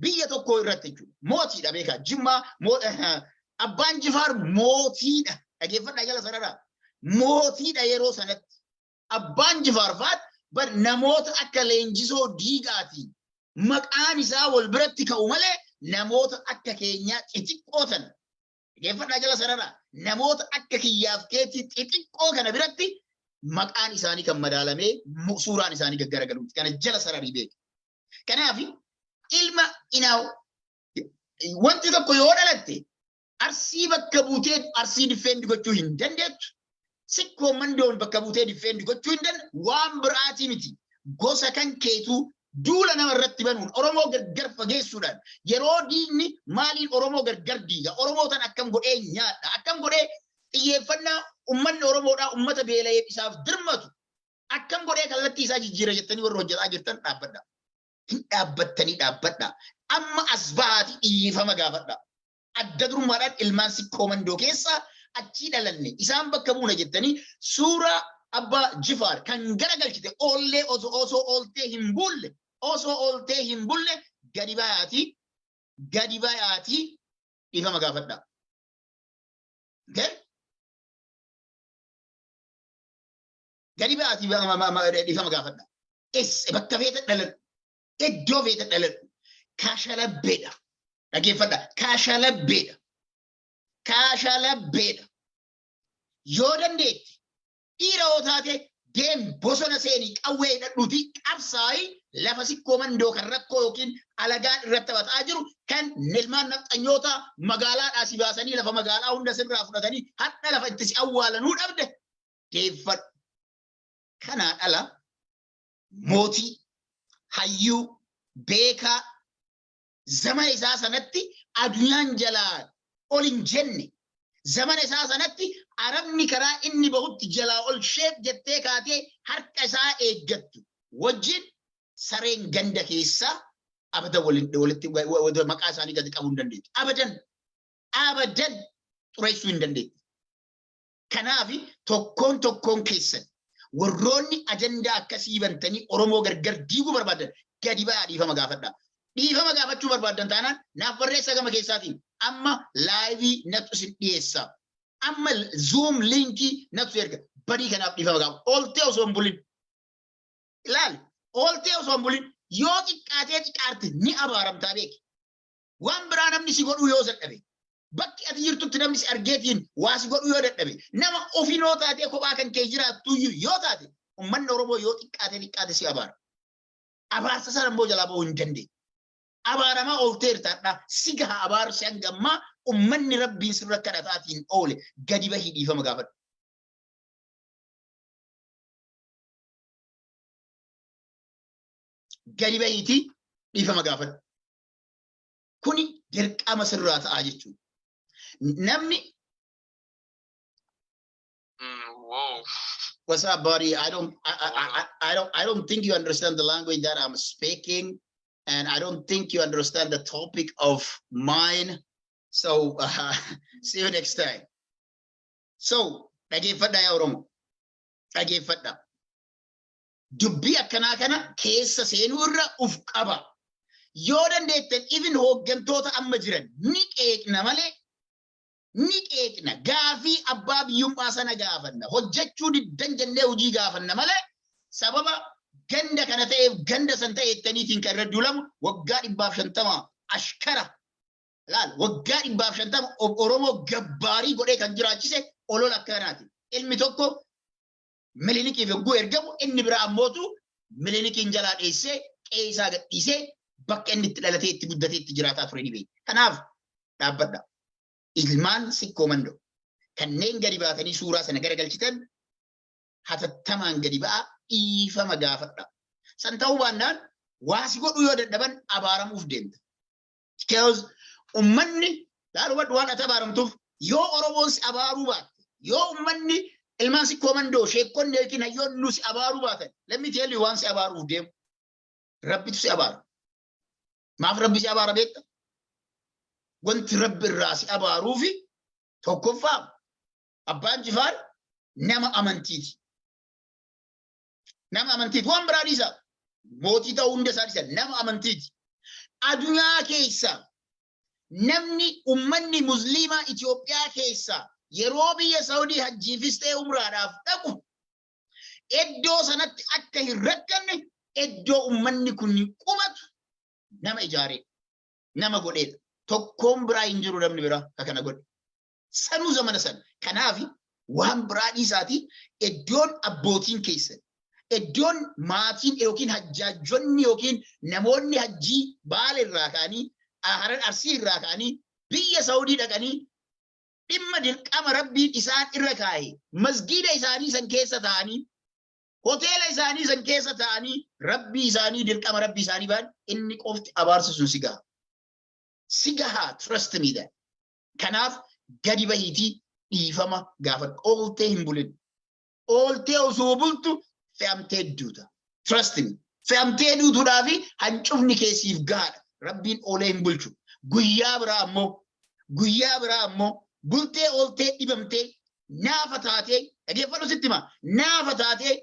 biyya tokkoo irratti jechuudha. Mootiidha beekaa. Jimmaa moo- eh, abbaan jifaar mootiidha. Dhageeffadhaa jala sanarraa. Mootiidha yeroo sanatti. Abbaan jifaar faat bar namoota akka leenjisoo diigaatiin maqaan isaa wal biratti ka'u malee namoota akka keenyaa xixiqqoo tan. Dhageeffadhaa jala sanarraa. Namoota akka kiyyaaf keetti xixiqqoo kana biratti maqaan isaanii kan madaalamee mu- suuraan isaanii gaggaragaluuti. Kana jala sararii beeku. Kanaaf ilma inaaw wanti tokko yoo dhalatte arsii bakka buutee arsii diffeendi gochuu hin dandeettu. Sikkoo mandoon bakka buutee diffeendi gochuu hin dandeettu. Waan biraatii miti. Gosa kan keetuu duula nama irratti banuun Oromoo gargar fageessuudhaan yeroo diinni maaliin Oromoo gargar diiga Oromoo tan akkam godhee nyaadha akkam godhee xiyyeeffannaa ummanni Oromoodhaa ummata beela'eef isaaf dirmatu Akkam godhee kallattii isaa jijjiira jettanii warri hojjetaa jirtan dhaabbadha. Hin dhaabbattanii dhaabbadha. Amma as bahaati dhiifama gaafadha. Adda durummaadhaan ilmaan sikkoo mandoo keessaa achii dhalanne isaan bakka buuna jettanii suuraa abbaa jifaar kan garagalchite oollee osoo osoo ooltee hin bulle osoo ooltee hin bulle gadi bayaati gadi bayaati dhiifama gaafadha. Okay? Gadi ba'aatii ba- ma- ma- ma- dhiifama gaafadha. Es bakka feeta dhaladhu. Iddoo feeta dhaladhu. Kaashalabbeedha. Dhaggeeffadha. Kaashalabbeedha. Kaashalabbeedha. Yoo dandeetti dhiira yoo taate deem bosona seenii qawwee hidhadhuuti qabsaa'i lafa sikkoo mandoo kan rakkoo yookiin alagaan irratti taphataa jiru kan ilmaan nafxanyoota magaalaadhaa si baasanii lafa magaalaa hunda sirraa fudhatanii hadha lafa itti si awwaalanuu dhabde deeffadhu. Kanaan ala mootii, hayyuu, beekaa zamana isaa sanatti addunyaan jalaa ol hin jenne zamana isaa sanatti arabni karaa inni bahutti jalaa ol sheef jettee kaatee harka isaa eeggattu wajjin sareen ganda keessaa abadan walitti maqaa isaanii gadi qabuu hin dandeettu. Abadan abadan xureessuu hin dandeettu. Kanaaf tokkoon tokkoon keessan warroonni ajandaa akkasii bantanii Oromoo gargar diiguu barbaadan gadi ba'aa dhiifama gaafadhaa. Dhiifama gaafachuu barbaadan taanaan naaf barreessaa gama keessaatiin amma laayivii natu isin dhiyeessa. Amma zuum liinkii natu erga badii kanaaf dhiifama gaafa. Ooltee osoo hin bulin. Ilaali ooltee osoo hin bulin yoo xiqqaatee xiqqaarte ni abaaramtaa beeki. waan biraa namni si godhuu yoo dadhabe bakki ati jirtutti namni si argeetiin waa si godhuu yoo dadhabe nama ofinoo taatee kophaa kan kee jiraattuyyuu yoo taate ummanni Oromoo yoo xiqqaate xiqqaate si abaara. Abaarsa sana immoo jalaa ba'uu hin dandeenye. Abaaramaa oolteertaadha si gaha abaarsi hanga ammaa ummanni rabbiin sirra kadhataatiin oole gadi bahii dhiifama gaafadhu. Gadi bahiitii dhiifama gaafadhu. Kuni dirqama sirraa ta'a jechuudha. Namni Mm, wow. What's up, buddy? I don't, I, I, I, I don't, I don't think you understand the language that I'm speaking, and I don't think you understand the topic of mine. So, uh, see you next time. So, dhageeffadha yaa Oromo. Dhageeffadha. dubbii akkanaa kana keessa seenuu irra uf qaba. Yoo dandeettan even hooggantoota amma jiran ni qeeqna malee ni qeeqna gaafii abbaa biyyummaa sana gaafanna hojjechuu diddan jennee hojii gaafanna malee sababa ganda kana ta'eef ganda san ta'e jettaniitiin kan irra duulamu waggaa dhibbaaf shantama ashkara laal waggaa dhibbaaf shantama oromoo gabbaarii godhee kan jiraachise olola akkanaati ilmi tokko Milinikiif yogguu ergamu inni biraa ammootu milinikiin jalaa dheessee qe'ee isaa gadhiisee bakka inni itti dhalatee itti guddatee itti jiraataa ture ni beekna. Kanaaf dhaabbadha. Ilmaan sikkoo mandoo kanneen gadi baatanii suuraa sana garagalchitan hatattamaan gadi ba'a dhiifama gaafadha. San ta'uu baannaan waasi godhuu yoo dadhaban abaaramuuf deemta. Because ummanni dhaadhuma duwwaan ati abaaramtuuf yoo Oromoon si abaaruu baate yoo ummanni ilmaan si koomandoo sheekkonni yookiin hayyoonni nu si abaaruu baatan lammi teelli waan si abaaruuf deemu rabbitu si abaara. Maaf rabbi si abaara beekta? Wanti rabbi irraa si abaaruufi tokkoffaa abbaan jifaar nama amantiiti. Nama amantiiti. Waan biraa dhiisa. Mootii ta'uu hunda isaa dhiisa. Nama amantiiti. Adunyaa keessa namni ummanni musliimaa Itoophiyaa keessa yeroo biyya Saawudii hajjiifis ta'e umraadhaaf dhaqu iddoo sanatti akka hin rakkanne iddoo ummanni kun qubatu nama ijaaree nama godheedha. Tokkoon biraa hin jiru namni biraa ka kana godhe. sanuu zamana sana kanaafi waan biraa dhiisaatii iddoon abbootiin keessan iddoon maatiin yookiin hajjaajjonni yookiin namoonni hajjii baala irraa ka'anii haran arsii irraa ka'anii biyya saawudii dhaqanii dhimma dirqama rabbiin isaan irra kaa'e masgiida isaanii san keessa ta'anii hoteela isaanii san keessa ta'anii rabbii isaanii dirqama rabbii isaanii baan inni qofti abaarsa sun si gaha si gaha trust me that Kanaaf gadi bahiitii dhiifama gaafadhu. Ooltee hin bulin. Ooltee osoo bultu fe'amtee duuta. Trust me. Fe'amtee duutuudhaa fi hancufni kee siif gahaadha. Rabbiin oolee hin bulchu. Guyyaa biraa ammoo guyyaa biraa ammoo bultee ooltee dhibamtee naafa taatee dhageeffadhu sitti hima naafa taatee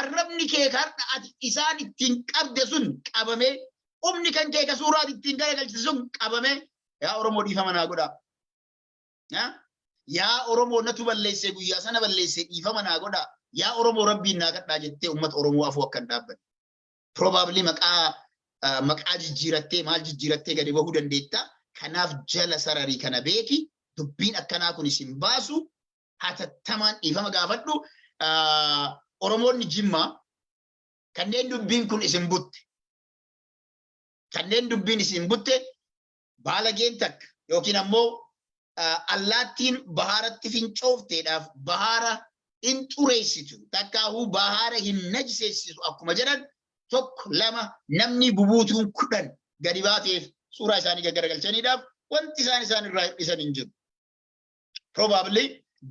arrabni kee har'a ati isaan ittiin qabde sun qabamee humni kan kee ka suuraa ati ittiin garagalchite sun qabamee Yaa Oromoo dhiifama naa godhaa. Yaa? Yaa Oromoo natu balleessee guyyaa sana balleessee dhiifama naa godhaa. Yaa Oromoo rabbiin naa kadhaa jettee uummata Oromoo afuu akka hin dhaabbanne. Probably maqaa ah, maqaa jijjiirattee maal jijjiirattee gadi bahuu dandeetta. Kanaaf jala sararii kana beeki dubbiin akkanaa kun isin baasu hatattamaan dhiifama gaafadhu. Ah, Oromoonni Jimmaa kanneen dubbiin kun isin butte kanneen dubbiin isin butte baalageen takka yookiin ammoo allaattiin bahaaratti fincoofteedhaaf bahaara hin xureessitu takkaahuu bahaara hin najseessitu akkuma jedhan tokko lama namni bubuutuun kudhan gadi baateef suuraa isaanii gaggaragalchaniidhaaf wanti isaan isaan irraa hir'isan hin jiru. Probably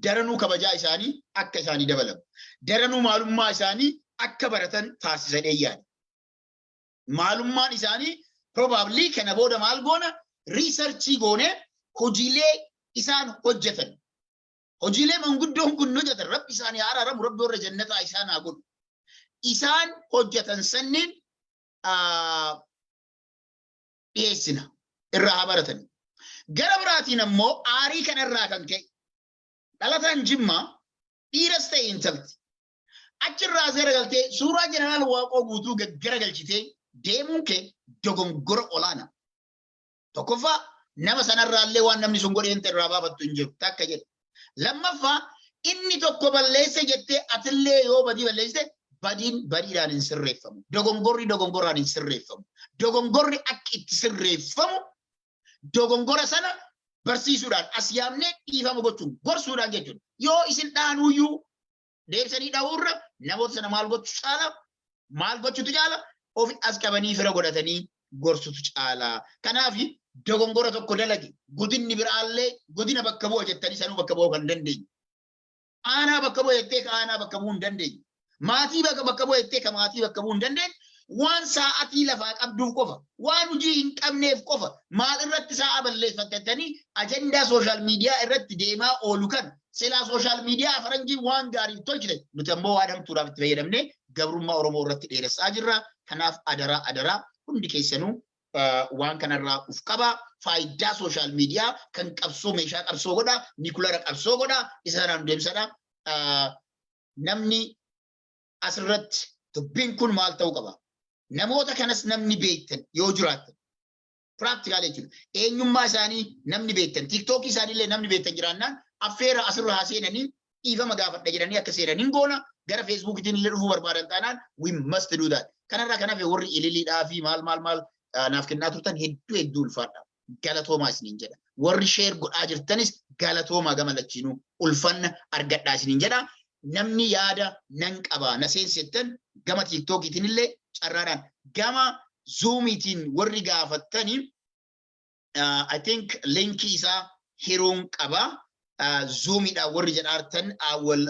daranuu kabajaa isaanii akka isaanii dabalamu. Daranuu maalummaa isaanii akka baratan taasisan eeyyaadha. Maalummaan isaanii probably kana booda maal goona riisarchii goonee hojiilee isaan hojjetan. Hojiilee manguddoon kun hojjetan rabbi isaanii haa araaramu rabbi warra jannataa isaan haa godhu. Isaan hojjetan sanniin dhiyeessina irraa haa baratan. Gara biraatiin ammoo aarii kanarraa kan ka'e dhalataan jimmaa dhiiras ta'e intalti Achirraa as garagaltee suuraa jeneraal Waaqoo guutuu garagalchitee deemuun kee dogongora olaanaa. Tokkoffaa nama sanarraallee waan namni sun godhee hin irraa baafattu hin jiru takka jedhe. Lammaffaa inni tokko balleesse jettee atillee yoo badii balleessite badiin badiidhaan hin sirreeffamu. Dogongorri dogongoraan hin sirreeffamu. Dogongorri akka itti sirreeffamu dogongora sana barsiisuudhaan as yaamnee dhiifama gochuun gorsuudhaan jechuudha. Yoo isin dhaanuyyuu deebisanii dhahuu irra namoota sana maal gochuu caala maal gochuutu caala ofi as qabanii fira godhatanii gorsutu caala. Kanaaf dogongora tokko dalage godinni biraallee godina bakka bu'a jettanii sanuu bakka bu'uu kan dandeenye. Aanaa bakka bu'a jettee ka aanaa bakka bu'uu hin dandeenye. Maatii bakka bakka bu'a jettee ka maatii bakka bu'uu hin dandeenye. Waan sa'atii lafaa qabduuf qofa, waan hojii hin qabneef qofa, maal irratti sa'a balleeffattatanii ajandaa sooshaal miidiyaa irratti deemaa oolu kana Silaa sooshaal miidiyaa faranjii waan gaariif tolchite nuti ammoo waan hamtuudhaaf itti fayyadamne gabrummaa Oromoo irratti dheeressaa jirra. Kanaaf adaraa adaraa hundi keessanuu waan kanarraa uf qaba. Faayidaa sooshaal miidiyaa kan qabsoo meeshaa qabsoo godha, nikulara qabsoo godha, isa sanaan deemsadha. Namni asirratti dubbiin kun maal ta'uu qaba? Namoota kanas namni beektan yoo jiraattan Practical jechuudha. Eenyummaa isaanii namni beektan, tiktookii isaaniillee namni beektan jiraannaan affeera asirra haa seenanii dhiifama gaafadha jedhanii akka seenan hin goona. Gara feesbuukiitiin illee dhufuu barbaadan taanaan we must do that. Kanarraa kan hafe warri ililiidhaa fi maal maal maal ah, naaf kennaa turtan hedduu hedduu ulfaadha. Galatoomaa isiniin jedha. Warri sheer godhaa jirtanis galatoomaa gama lachiinuu ulfanna argadhaa isiniin jedha. Namni yaada nan qaba na seensi jettan gama tiiktookiitiin illee carraadhaan gama zuumiitiin warri gaafattani I think linkii isaa hiruun qaba zuumiidhaan warri jedhaartan wal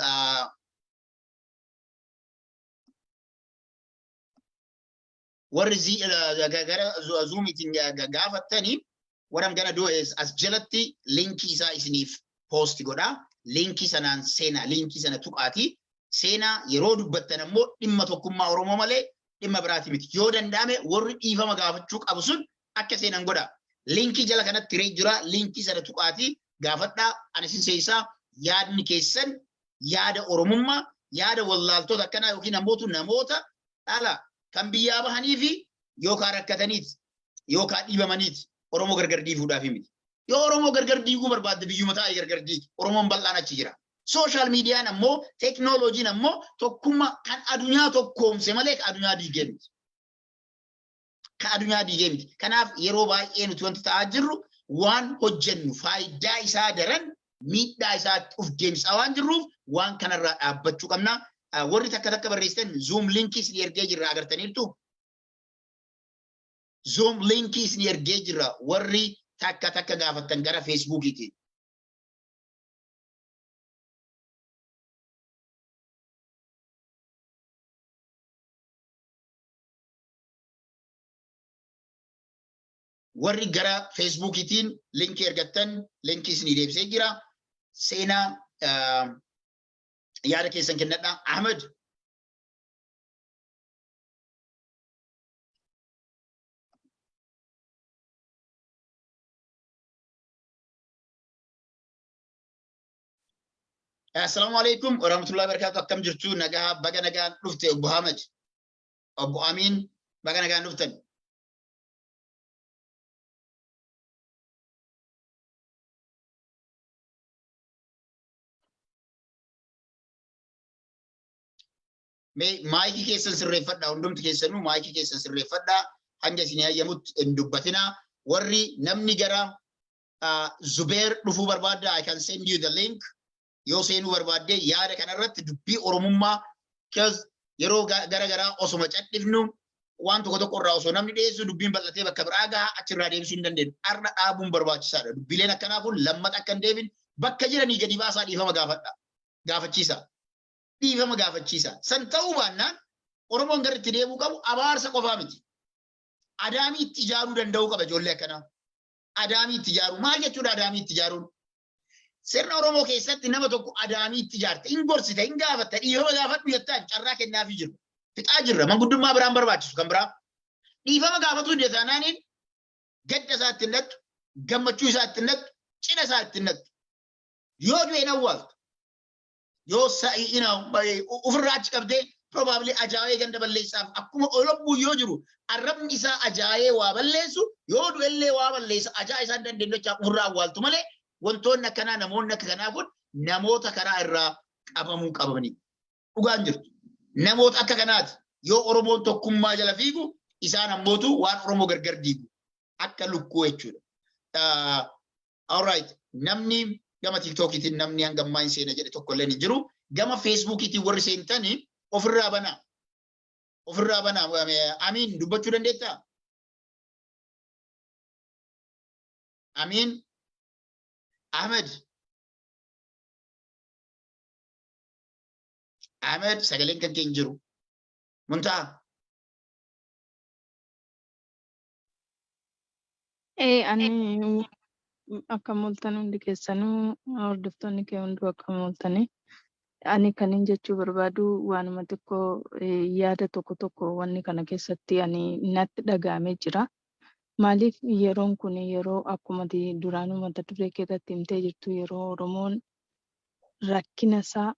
warri zi- eh, ga- gara zu- zuumiitiin ga- ga- gaafattaniif what I'm gonna do is as jalatti linkii isaa isiniif post godha linkii sanaan seenaa linkii sana tuqaatii seenaa yeroo dubbattan ammoo dhimma tokkummaa Oromoo malee dhimma biraati miti yoo danda'ame warri dhiifama gaafachuu qabu sun akka seenan godha linkii jala kanatti hiree jira linkii sana tuqaatii gaafadhaa ani isin seensaa yaadni keessan yaada Oromummaa yaada wallaaltoota akkanaa yookiin ammoo namoota dhala kan biyyaa bahanii fi yookaan rakkataniiti yookaan dhiibamaniiti Oromoo gargar diiguudhaaf miti. Yoo Oromoo gargar diiguu barbaadde biyyuma taa'e gargar diigi. Oromoon bal'aan achi jira. Sooshaal miidiyaan ammoo teeknooloojiin ammoo tokkummaa kan addunyaa tokkoomse malee kan addunyaa diigee miti. Kan addunyaa diigee miti. Kanaaf yeroo baay'ee nuti wanti ta'aa jirru waan hojjennu faayidaa isaa daran miidhaa isaatti of deemsaa waan jirruuf waan kanarraa dhaabbachuu qabna. Warri takka takka barreessitan zoom linkii isin ergee jirra agartaniirtu. Zoom linkii isin ergee jirra warri takka takka gaafattan gara feesbuukiiti. warri gara feesbuukiitiin linkii ergattan linkii isinii deebisee jira. Seenaa yaada keessan kennadha. Ahmed. Assalaamu alaikum warahmatullahi wabarakatuh akkam jirtu nagaa baga nagaan dhufte obbo Ahmed obbo Amiin baga nagaan dhuftan. Mee maayikii keessan sirreeffadhaa hundumti keessanuu maayikii keessan sirreeffadhaa hanga isin hayyamutti hin dubbatinaa warri namni gara ah, Zubeer dhufuu barbaadda I can send you the link yoo seenuu barbaadde yaada kanarratti dubbii Oromummaa kaz yeroo ga- gara garaa osoma cadhifnu waan tokko tokko irraa osoo namni dhiyeessu dubbiin bal'atee bakka biraa gaha achirraa deebisuu hin dandeenyu. Har'a dhaabuun barbaachisaadha. Dubbiileen akkanaa kun lammata akka hin deebin bakka jiranii gadi baasaa dhiifama gaafadha. Gaafachiisa. Dhiifama gaafachiisa. San ta'uu baannaan Oromoon gara itti deebuu qabu abaarsa qofaa miti. Adaamii itti ijaaruu danda'uu qaba ijoollee akkanaa. Adaamii itti ijaaruu. Maal jechuudha adaamii itti ijaaruun? Sirna Oromoo keessatti nama tokko adaamiitti ijaarte, hin gorsita, hin gaafatta, dhiifama gaafadhu jettaan carraa kennaafii jirra. Fixaa jirra, manguddummaa biraan barbaachisu kan biraa. Dhiifama gaafatuu dide taanaaniin gadda isaa ittiin dhattu, gammachuu isaa ittiin dhattu, cidha isaa ittiin dhattu. Yoo du'e hin awwaaltu. yoo sa'i ina ofirraa achi qabdee probably ajaa'ee ganda balleessaaf akkuma olobbuun yoo jiru arrabni isaa ajaa'ee waa balleessu yoo du'ellee waa balleessa ajaa isaan dandeenyachaa ofirraa awwaaltu malee wantoonni akkanaa namoonni akka kanaa kun namoota karaa irraa qabamuu qabamanii dhugaan jirtu namoota akka kanaati yoo oromoon tokkummaa jala fiigu isaan ammootu waan oromoo gargar diigu akka lukkuu jechuudha. Alright, namni gama TikTokiitiin namni hanga ammaa hin seene jedhe tokko illee hin jiru. Gama Facebookiitiin warri seentani ofirraa banaa. Ofirraa banaa. Amiin dubbachuu dandeettaa? Amiin Ahmed. Ahmed sagaleen kan kee hin jiru. Muntaa. Ee ani akkam ooltan hundi keessanuu hordoftoonni kee hunduu akkam ooltani. Ani kanin jechuu barbaadu waanuma xiqqoo eh, yaada tokko tokko wanni kana keessatti ani natti dhaga'amee jira. Maaliif yeroon kun yeroo akkuma ati duraanuu mata duree kee irratti himtee jirtu yeroo Oromoon rakkina isaa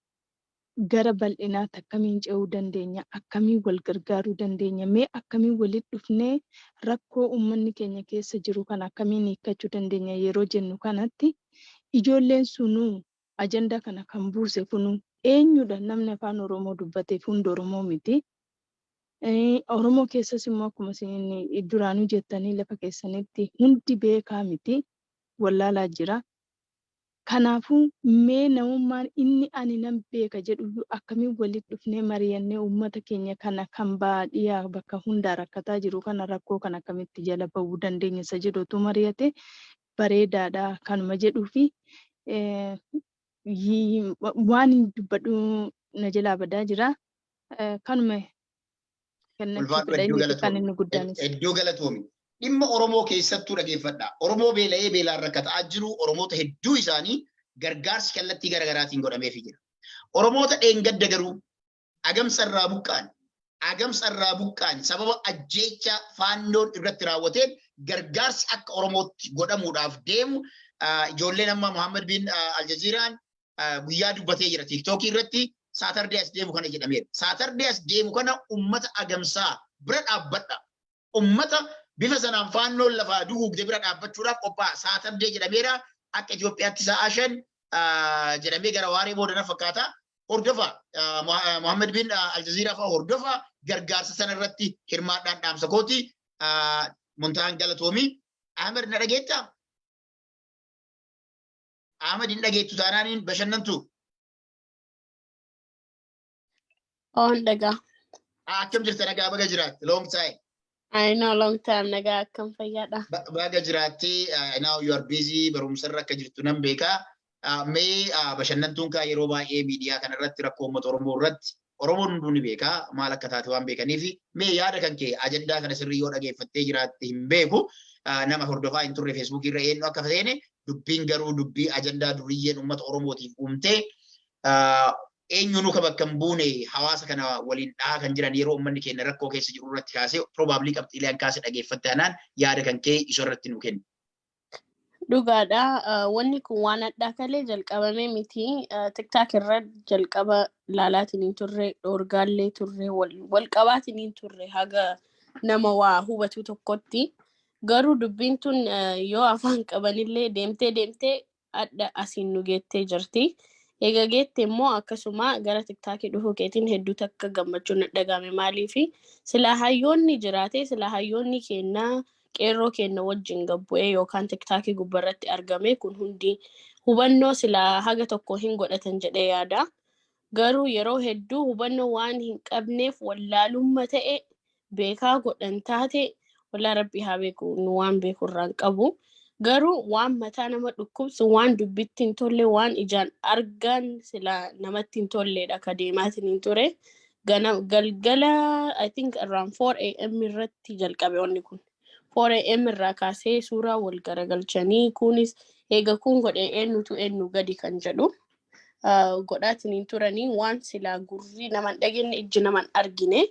gara bal'inaatti akkamiin ce'uu dandeenya? Akkamiin wal gargaaruu dandeenya? Mee akkamiin walitti dhufnee rakkoo ummanni keenya keessa jiru kana akkamiin hiikkachuu dandeenya yeroo jennu kanatti ijoolleen sunuu ajandaa kana kan buuse kunuu eenyudha? Namni Afaan Oromoo dubbateef hundi Oromoo miti. Oromoo keessas immoo akkuma isin duraanuu jettanii lafa keessanitti hundi beekaa miti. Wallaalaa jira. Kanaafuu, mee namummaan inni ani nan beeka jedhuyyuu akkamiin walitti dhufnee mariyannee uummata keenya kana kan bahaa dhiyaa bakka hundaa rakkataa jiru kana rakkoo kana akkamitti jala bahuu dandeenya isa jedhu otuu mariyate bareedaadha kanuma jedhuufi waanin dubbadhu na jalaa badaa jira kanuma Ulfaadhu hedduu galatoomi. Hedduu galatoomi. Dhimma Oromoo keessattuu dhageeffadha. Oromoo beela'ee beelaan rakkataa jiru Oromoota hedduu isaanii gargaarsi kallattii garaagaraatiin godhameefii jira. Oromoota dheengadda garuu agamsa irraa buqqaan agamsa irraa buqqaan sababa ajjeechaa faannoon irratti raawwateen gargaarsi akka Oromootti godhamuudhaaf deemu ijoolleen amma Muhammad bin Aljaziiraan guyyaa dubbatee jira tiiktookii irratti saatardee as deemu kana jedhameera. Saatardee as deemu kana ummata agamsaa bira dhaabbadha. Ummata bifa sanaan faannoon lafaa duguugde bira dhaabbachuudhaaf qophaa'aa saatardee jedhameera. Akka Itoophiyaatti sa'aa shan jedhamee gara waaree booda na fakkaata. Hordofa Mohaammed bin Aljaziiraa fa'a hordofa gargaarsa sana irratti hirmaadhaan dhaamsa kooti. Muntaan galatoomii. Ahmed na dhageettaa? Ahmad hin dhageettu taanaan hin bashannantu. Oon dhagaa. Ah, Akkam jirta nagaa baga jiraatte long time. I know long time nagaa akkam fayyaadha. Ba- Baga jiraatte ah, now you are busy barumsarra akka jirtu nan beeka. Ah, Mee ah, bashannantuun kaa yeroo baay'ee miidiyaa kanarratti rakkoo uummata Oromoo irratti Oromoon hunduu ni beeka maal akka taate waan beekaniifi mee yaada kan kee ajandaa kana sirrii yoo dhageeffattee jiraatte hin beeku nama hordofaa hin turre feesbuukii irra eenyu akka seene dubbiin garuu dubbii ajandaa duriyyeen uummata Oromootiif uumtee eenyuunuu kan bakka hin buune hawaasa kana waliin dhahaa kan jiran yeroo uummanni keenya rakkoo keessa jiru irratti kaasee probably qabxiilee an kaase dhageeffatte anaan yaada kan kee isa irratti nu kenna. Dhugaadha. Wanni kun waan addaa kalee jalqabame miti. Tiktaak irra jalqaba laalaatiin hin turre, dhoorgaallee turre, wal qabaatiin hin turre haga nama waa hubatu tokkotti. Garuu dubbiin tun yoo afaan qabanillee deemtee deemtee adda asiin nu geettee jirti. Egaa geette immoo akkasuma gara tiktaakii dhufuu keetiin hedduu takka gammachuun dhagahame maaliifi silaa hayyoonni jiraate silaa hayyoonni keennaa qeerroo keenna wajjin gad bu'ee yookaan tiktaakii gubbarratti argame kun hundi hubannoo silaa haga tokko hin godhatan jedhee yaada. Garuu yeroo hedduu hubannoo waan hin qabneef wallaalumma ta'e beekaa godhan taate wallaa rabbii haa beeku nu waan beeku irraa hin qabu. Garuu waan mataa nama dhukkubsu waan dubbitti hin tolle waan ijaan argaan silaa namatti hin tolleedha ka deemaatiin hin ture. Gana galgala I think around 4 am irratti jalqabe wanni kun. 4 am irraa kaasee suuraa wal garagalchanii kunis eega kun godhe eenyutu eenyu gadi kan jedhu ah, godhaatiin hin turanii waan silaa gurri naman dhagenne ijji naman argine.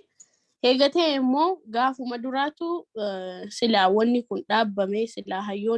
Eega ta'e immoo gaafuma duraatu ah, silaa wanni kun dhaabbame silaa hayyoon